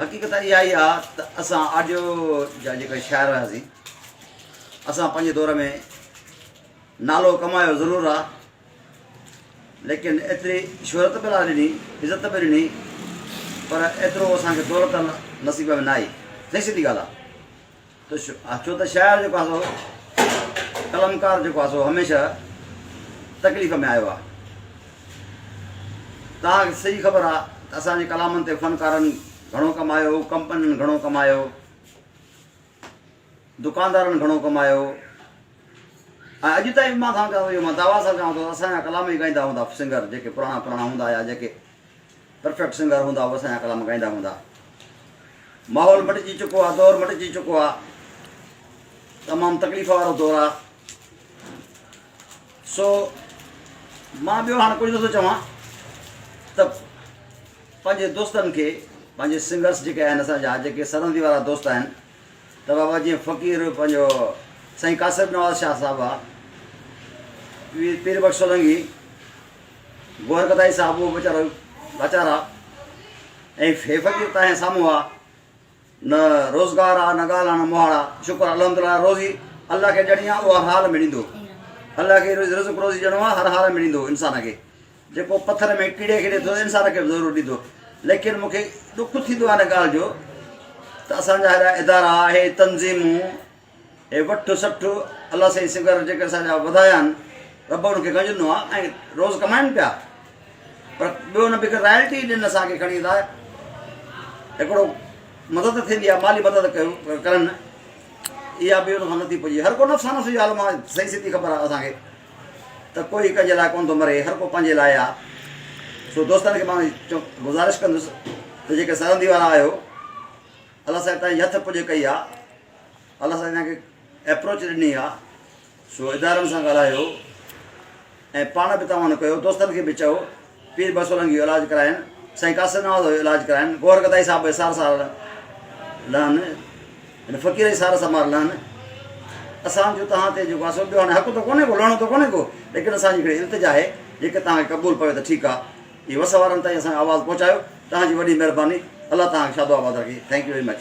حقيقت اها ئي آ ته اسان آجو جا جيڪي شاعر هياسين، اسان پنهنجي دور ۾ نالو ڪمايو ضرور آ، ليڪن ايتري شهرت به نه ڏني، عزت به ڏني، پر ايترو اسان کي دولت نصيب ۾ نه آئي، سائين سڌي ڳالهه آ. ته ڇو ته شاعر جيڪو آهي سو قلمڪار جيڪو آهي سو هميشه تڪليف ۾ آيو آهي توهان کي صحيح خبر آهي ته اسان جي ڪلامن تي فنڪارن گهڻو ڪمايو ڪمپنين گهڻو ڪمايو دڪاندارن گهڻو ڪمايو ۽ اڄ تائين به مان توهان کي اهو مان دعوا سان چوان ٿو اسان جا ڪلام ئي ڳائيندا هوندا سنگر جيڪي پراڻا پراڻا هوندا آيا جيڪي پرفيڪٽ سنگر هوندا هو اسان جا ڪلام ڳائيندا هوندا ماحول مٽجي چڪو آ دور مٽجي چڪو آ تمام تڪليف وارو دور آ سو مان ٻيو هاڻ ڪجهه نٿو چوان ته پنهنجي دوستن کي پنهنجي سنگرس جيڪي آهن اسان جا جيڪي سرندي وارا دوست آهن ته بابا جيئن فقير پنهنجو سائين قاصر نواز شاهه صاحب آ پير بخش سولنگي گوهر گدائي صاحب اهو به ويچارو لاچار آ ۽ هي فقير تنهنجي سامهون آ نه روزگار آ نه ڳالهه آ نه مهاڙ آ شڪر الحمد لله روزي الله کي ڏيڻي آ اهو هر حال ۾ ڏيندو الله کي رزق روزي ڏيڻو آ هر حال ۾ ڏيندو انسان کي جيڪو پٿر ۾ ڪيڙي کي ڏي ٿو انسان کي به ضرور ڏيندو ليڪن مونکي ڏک ٿيندو آ هن ڳالهه جو ته اسان جا هيڏا ادارا هي تنظيمون اي وٺ سٺ الله سائين سگهر جيڪي اسان جا وڌايا آهن رب انهن کي گنجندو آ ۽ روز ڪمائن پيا پر ٻيو نه بيڪر رائلٽي ڏين اسان کي کڻي ادا هڪڙو مدد ٿيندي آ مالي مدد ڪيو ڪرن اها به ان کان نٿي پڄي هر ڪو نفس نفس جي عالم آ سائين سيدي خبر آ اسان کي ته ڪوئي ڪنهن جي لاء ڪون ٿو مري هر ڪو پنهنجي لاء آ سو دوستن کي مان گزارش ڪندس ته جيڪي سرندي وارا آهيو الله سائين تائين يٿ پڄ ڪئي آ الله سائين تائين کي اپروچ ڏني آ سو ادارن سان ڳالهايو ۽ پاڻ به تاوان ڪيو دوستن کي به چئو پير بسولنگ جو علاج ڪرائن سائين قاصد نواز جو علاج ڪرائن گوهر گدائي صاحب به سار سار لهن ان فقير جي سار سمار لهن اسان جو تهان تي جو واسو ٻيو هاڻي حق تو ڪونه ڪو لهڻو تو ڪونه ڪو ليڪن اسان جي ڪڙي التجا آهي جيڪي تهان کي قبول پوي ته ٺيڪ آ جي وس وارن تائين اسان جو آواز پهچايو تهان جي وڏي مهرباني الله تهان کي شادو آباد رکي ٿينڪ يو ويري مچ.